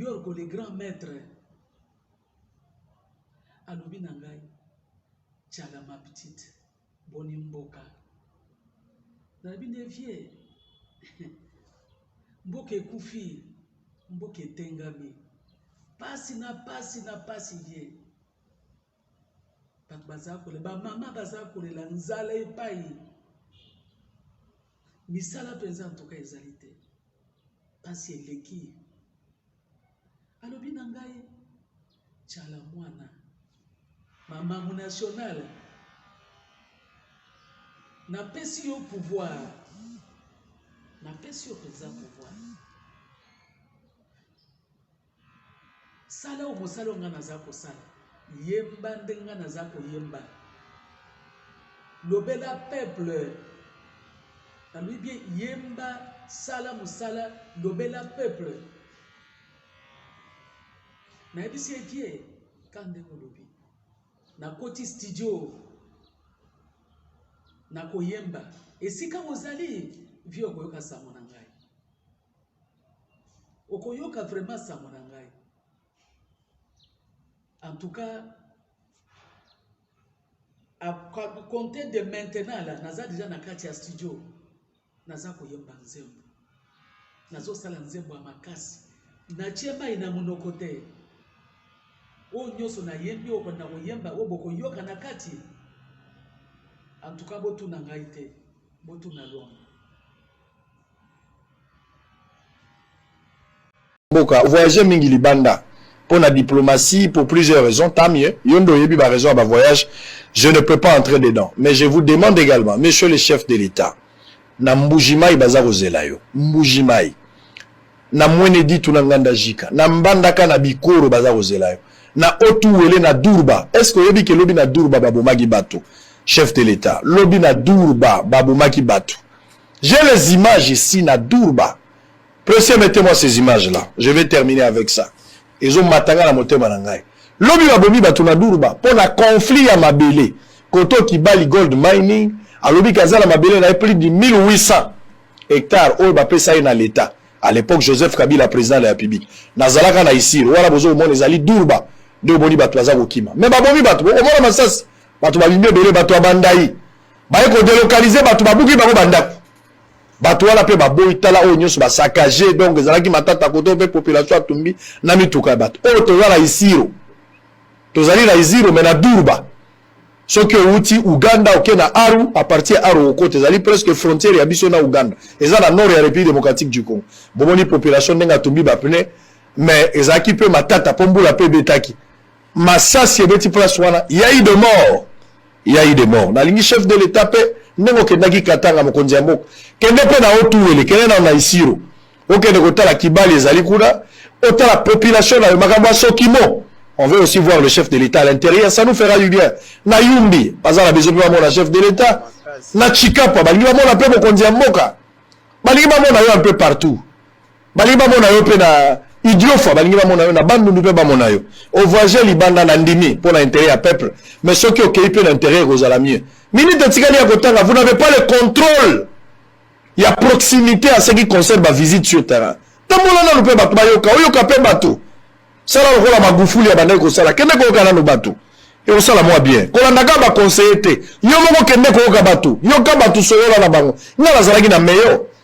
Yorko le grand maitre alobi na ngai tshala ma petite boni mboka nalobi nde vie mboka ekufi mboka etengami pasi na pasi na pasi vie bato baza kolela bamama baza kolela nzala epai misala mpenza ntoka ezali te mpasi eleki alobi na ngai cala mwana mama munationale napesi yo pouvoir napesi yo mpenza pouvoir Sala oyo mosala oyo ngai naza kosala. Yemba ndenge ngai naza koyemba. Lobela peuple. Nalobi bien yemba, sala mosala, lobela peuple. Nayebisi ye kie ka ndenge olobi. Nakoti studio. Nakoyemba. Esika ozali, vie okoyoka sango na ngai. Okoyoka vraiment sango na ngai. En tout cas, à compter de maintenant là, naza déjà na kati ya studio. Naza koyemba nzembo. Nazo sala nzembo ya makasi. Natie mai na monoko te. Oyo nyonso nayembi oyo na koyemba oyo bokoyoka na kati. En tout cas, botuna ngai te. Botuna Luamba. mboka voyage mingi libanda pour la diplomatie pour plusieurs raisons tant mieux yondo yebi ba raison ya ba voyage je ne peux pas entrer dedans mais je vous demande également monsieur le chef de l'état na mbujimai baza kozela yo mbujimai na mwene ditu na nganda jika na mbandaka na bikoro baza kozela yo na otuwele na durba est ce que oyebi ke lobi na durba babomaki bato chef de l'état lobi na durba babomaki bato J'ai les images ici na Durba. Pressé, mettez-moi ces images-là. Je vais terminer avec ça. Ils ont matanga na motema na ngai. Lobi ba bomi batu na Durba pour la conflit à Mabélé. Koto qui bali gold mining, à lobi kazala Mabélé na plus de 1800 hectares au bapé ça na l'État. À l'époque, Joseph Kabila, président de la République. Nazalaka na ici, wala bozo mon ezali Durba. De boni batu aza kokima. Mais ba bomi batu, au moins masas, batu ba bimbe belé batu abandai. baye kodelokalize bato babuki bango bandako bato wana mpe baboyi tala oyo nyonso basakage donc ezalaki matata koto mpe population atumbi na mituka ya bato oyo toza na isiro tozali na isiro me na durba soki owuti uganda oke na aru apartir ya aru okota ezali presque frontière ya biso na uganda eza na nord ya république démocratique du congo bomoni population ndenge atumbi bapne mais ezalaki mpe matata mpo mbula mpe ebetaki masasi ebeti place wana yai de mort yai de mort nalingi chef de l'etat mpe ndenge okendaki katanga mokonzi ya mboka kende mpe na otuwele kende na naisiro okende kotala kibali ezali kuna otala population na yo makambo ya sokimo on veut aussi voir le chef de l'état à l'intérieur ça nous fera du bien na yumbi baza na besoin mpe bamona chef de l'état na chikapa balingi bamona mpe mokonzi ya mboka balingi bamona yo un peu partout balingi bamona yo mpe na idiofa balingi bamona yo na bandundu mpe bamona yo ovoyage libanda na ndimi mpo na intérêt ya peuple mais soki okei mpe na intérêt ekozala mieux minute etikali ya kotanga vous n'avez pas le contrôle ya proximité à ce qui concerne bavisite sur terrain tambola nanu mpe bato bayoka oyoka mpe bato sala lokola magufuli abandaki kosala kende koyoka nanu bato ekosala mwa bien kolandaka baconseille te yo moko kende koyoka bato yoka bato solola na bango ngai nazalaki na meyo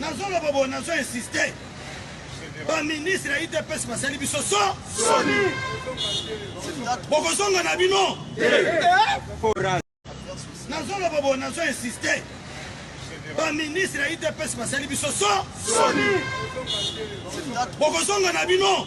nazoloba boye nazo insiste baministre ya idps basali biso so soni bokozonga na bino nazoloba boye nazo insiste baministre ya idps basali biso so soni bokozonga na bino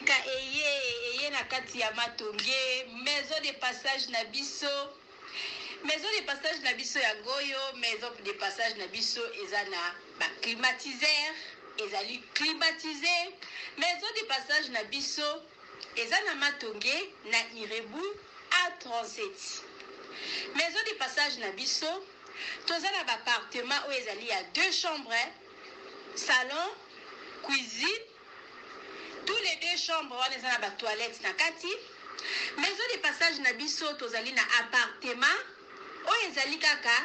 Sika eye eye na kati ya matonge maison de passage na biso maison de passage na biso ya ngoyo maison de passage na biso eza na ba climatiseur ezali climatise maison de passage na biso eza na matonge na irebu a 37 maison de passage na biso toza na ba appartement oyo ezali ya deux chambres salon cuisine Tout les deux chambre wana eza na ba toilettes na kati. Maison de passage na biso tozali na appartement oyo ezali kaka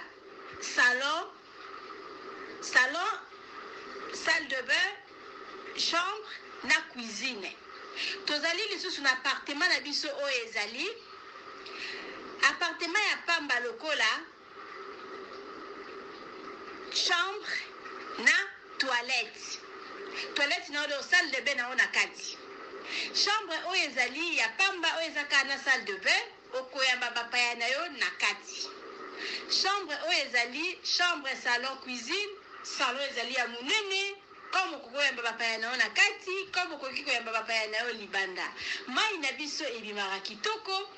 salon, salon, salle de bain, chambre na cuisine. Tozali lisusu na appartement na biso oyo ezali appartement ya pamba lokola Chambre na toilette. Toilette na yo donc salle de bain na yo na kati. Chambre oyo ezali ya pamba oyo eza kaka na salle de bain okoyamba bapaya na yo na kati. Chambre oyo ezali chambre, salon, cuisine. Salon ezali ya monene. Comme okoki koyamba bapaya na yo na kati, comme okoki koyamba bapaya na yo libanda. Mayi na biso ebimaka kitoko.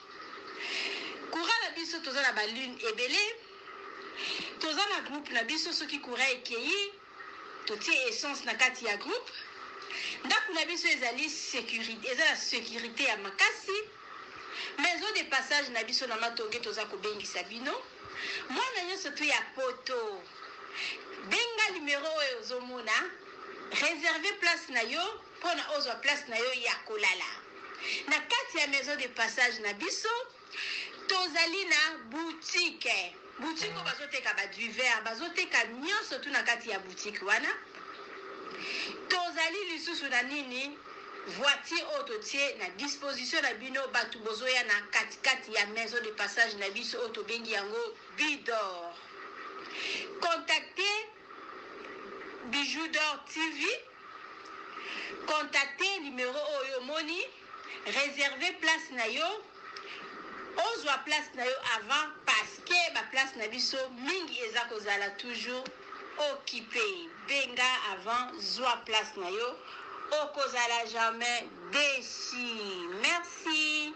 Courant na biso toza na ba lune ebele. Toza na groupe na biso soki courant ekeyi totie essence na kati ya groupe. Ndaku na biso ezali securite, eza na securite ya makasi. Maison de passage na biso na Matonge toza kobengisa bino. Mwana nionso tu ya poto. Benga numero oyo ozo mona, reserver place na yo pona ozwa place na yo ya kolala na kati ya maison de passage na biso. Tozali na boutique, boutique oyo bazo teka ba duvers, bazo teka nionso tout na kati ya boutique wana. Tozali lisusu na nini? Voiture oyo totie na disposition na bino batu bozoya na kati kati ya maison de passage na biso oyo tobengi yango Bidor. Contacter Bijoux d'or TV, contacter numero oyo omoni, reserver place na yo, ozwa place na yo avant parce que ba place na biso mingi eza kozala toujours occupe. Benga avant, zwa place na yo, okozala jamais deçu. Merci.